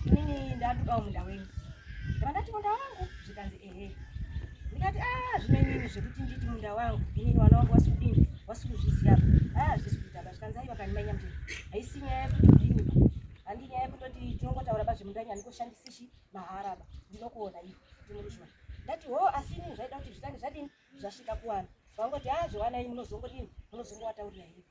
Inini ndatukawo munda wenyu. Ndakati munda wangu zvikanzi ehe. Ndikati ah zvinenyini zvekuti nditi munda wangu inini wana wangu wasikudini wasikuzviziva ah zvisi kuita ba zvikanzi aiwa kani manya mtini haisi nyaya yekuti ndini ba handi nyaya yekutoti tinongotaura pazvemunda nyani koshandisishi mahara ba ndinokuona iwe ndinokuzviwa ndati ho oh, asi inini zvaida kuti zvitange zvadini zvasvika kuwana vangoti ah zviwana inini munozongodini munozongowataurira iwe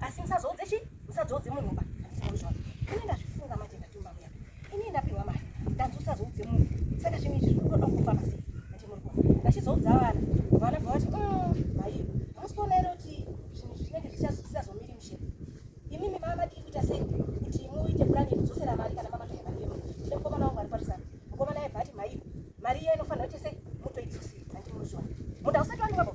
asi musazoudze chi musazoudze munhu ba ndizvona ini ndazvifunga manje ndatumba muya ini ndapihwa mari ndanzi usazoudze munhu saka zvinhu izvi zviri kuda kufa masi manje muri kuona ndachizoudza vana vana bva vati maiyo mm, hamusi kuona ere kuti zvinhu izvi zvinenge zvisazomiri mushe imimi mama madii kuita sei kuti muite purani yekudzosera mari kana mamatoya mari yemunhu ndine mukomana wangu ari parisana mukomana aibva ati maiyo mari iya inofanira kuite sei mutoidzosei manje muri kuona munhu ausati wandimabo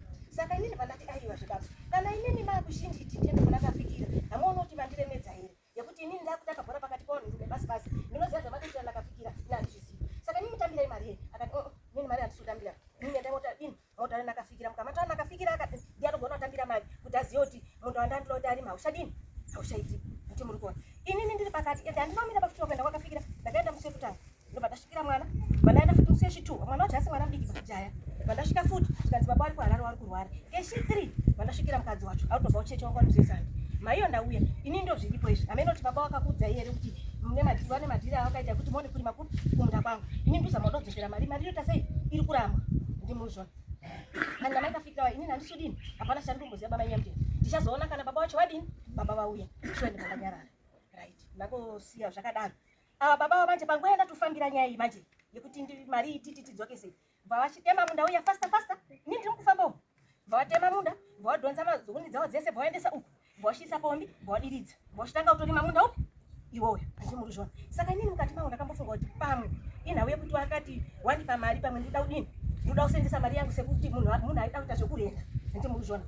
Saka inini pandati aiwa zvebaba, kana inini makushinji titende kuna kafikira, hamuoni kuti vandiremedza here? Yekuti inini ndakutanga bhora pakati pavanhu rume basi basi, ndinoziva zvavatoitira nakafikira, ini handizvizivi. Saka inini mutambirai mari here? Akati, oh, inini mari handisutambira. Inini endai mota, ini mota nakafikira, mukamata nakafikira akati, ndiye anogona kutambira mari, kuti azive kuti munhu wandandira kuti arima, haushadini, haushaiti, kuti muri kuona. Inini ndiri pakati, ende handinomira pakutiro kuenda kwakafikira, ndakaenda musi wekutanga. ndobva ndasvikira mwana vandaenda futi musi yechitu mwana wacho asi mwana mudiki pakujaya vandasvika futi zvikanzi baba wari kuharare wari kurwara keshi three vandasvikira mukadzi wacho autobva ucheche wanga wamusesani maiyo ndauya ini ndo zviripo izvi amene kuti baba wakakudza iye ere kuti mune madhiri wane madhiri awakaita kuti mone kurima kuri kumunda kwangu ini nduzama udodzosera mari mari inoita sei iri kuramba ndimuzva ani namai kafikirawa ini nandisudini hapana chani kumboziva baba nyamdini ndichazoona kana baba wacho wadini baba vauya shuwa ndikanganyarara right nakosiya zvakadaro Ava baba ava manje panguva yandatofambira nyaya iyi manje yekuti ndi mari ititi tidzokese bva vachitema munda uya fasta fasta ini ndiri mukufamba uku bva vatema munda bva vadhonza mazuni dzavo dzese bva vaendesa uku bva vachiisa pombi bva vadiridza bva vachitanga kutorima munda upi iwoyo handii muri zvona saka inini mukati mangu ndakambofunga kuti pamwe inhau yekuti wakati wandipa mari pamwe ndida kudini ndinoda kusenzesa mari yangu sekuti munhu munhu aida kuita zvekurenda handii muri zvona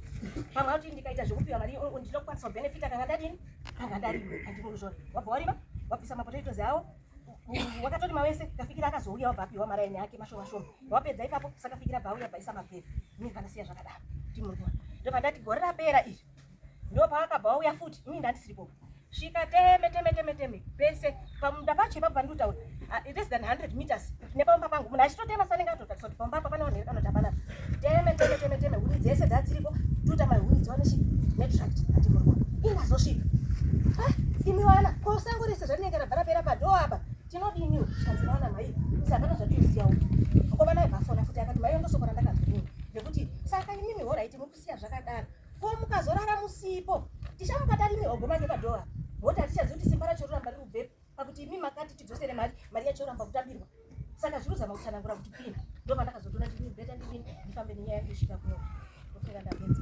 pamwe akuti ndikaita zvekupiwa mari ndinoda kukwanisa kubenefita kanga ndadini akadarima handiko kuzvona wabva warima wabvisa mapotatoes awo wakatorima wese kafikira akazouya wabva apiwa maraini ake mashoma shoma wapedza ipapo sakafikira bva auya bvaisa mapere ini panasiya zvakadaro ndimurwa ndobva ndati gore rapera izvi ndopaakabva wauya futi ini ndandisiripo svika teme teme teme teme pese pamunda pacho ipapo pandinotaura ah, less than 100 meters nepamba pangu munhu achitotema sanenge atotatisa kuti pamba apa pane vanhu here vanoti hapana teme teme teme teme huni dzese dzadziriko tuta mahuni dziwane chi netract atimurwa ingazosvika ah, imi vana ko sango rese zvatinenge rabva rapera padoo apa tinodiniwo zvikanzi vana mai isi hapana zvatiosiyawo ko vana vafona futi akati maiyo ndosoko randakanzwa nini nekuti saka imimi horaiti muku siya zvakadaro ko mukazorara musipo tichamuka tarime ogoma ngepadhora moti hatichazivi kuti simba racho roramba riri kubvepi pakuti imi makati tidzosere mari mari yacho yoramba kutambirwa saka zviri kuzama kutsanangura kuti pini ndo pandakazotoona ndii beta ndidini ndifambe nenyaya yangu isvika kuno ofika ndapedza